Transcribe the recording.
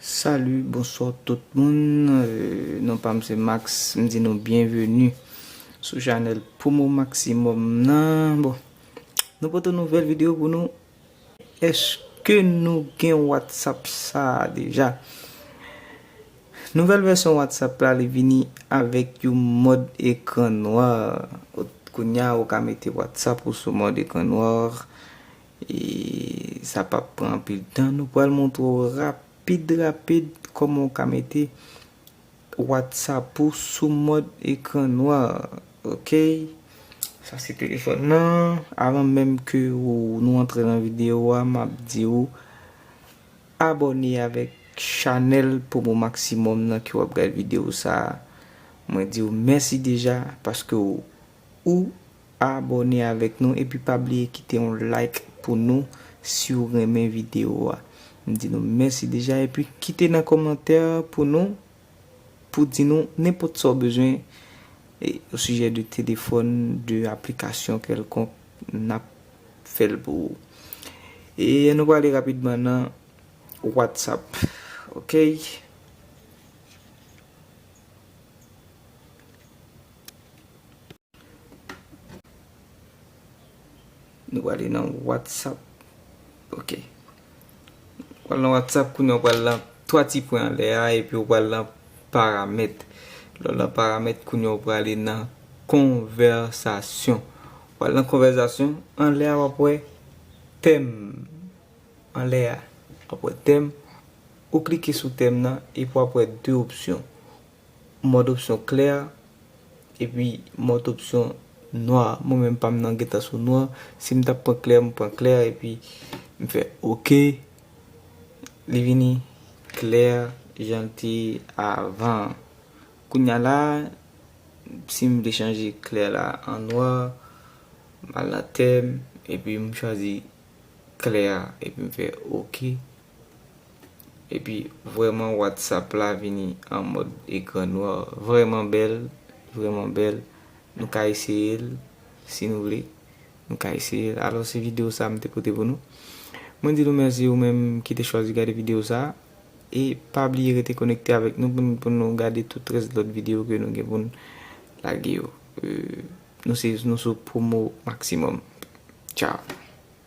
Salut bonsoir tout moun non pam se Max m di nou byenveni sou chanèl promo maximum nan bon nou pote yon nouvèl video pou nou Eske nou gen whatsapp sa deja? Nouvèl vèsyon whatsapp la li vini avèk yon mòd ekran noir kounya ou ka mete whatsapp ou sou mòd ekran noir e sa pap pran anpil tan nou pral montre w rapid rapid kòman ou ka mete Whatsapp ou sou mòd ekran nwa ok. Sa se telefòn nan. Avan menm ke nou antre nan video a map di ou abòne avèk chanèl Promo Maximum nan ke wap gad video sa. Mwen di ou mèsi deja paske ou Abòne avèk nou epi pa bliye kite yon like pou nou siw renmen video a. M di nou mèsi deja epi kite nan kòmantè pou nou pou di nou nenpòt sa w bezwen o sijè de telefòn, de aplikasyon kèlkonk nap fèl pou ou. E nou prale rapidman nan whatsapp ok. Nou prale nan WhatsApp. Ok. Nou prale nan WhatsApp kounye an prale nan 3 ti pwen anlè a epi ou prale nan paramèt. Lè ou nan paramèt kounye an prale nan konvèsasyon. Prale nan konvèsasyon anlè a wap wè tèm. Anlè a wap wè tèm. Ou klike sou tèm nan epi wap wè 2 opsyon. Mòd opsyon klè a epi mòd opsyon nwa a. Mwen menm pa m nan gentan sou nwa. Si m t ap pran klè, m pran klè a epi m fè ok. Li vini klè jan l te ye avan an. Kounya la a, si m vle chanje klè la an nwa, m al nan tèm epi m chwazi klè a epi m fè ok. Epi vrèman whatsapp la vini an mòd ekran nwa vrèman bèl vrèman bèl nou ka eseyel si nou vle nou ka eseyel alò se video sa mte pote pou nou mwen di nou mèsi ou menm ki te chwazi gade video sa e pa bliye rete konekte avèk nou pou nou gade tout rès lòt video ke nou gen poun lage yo nou se nou sou promo maximum tchao.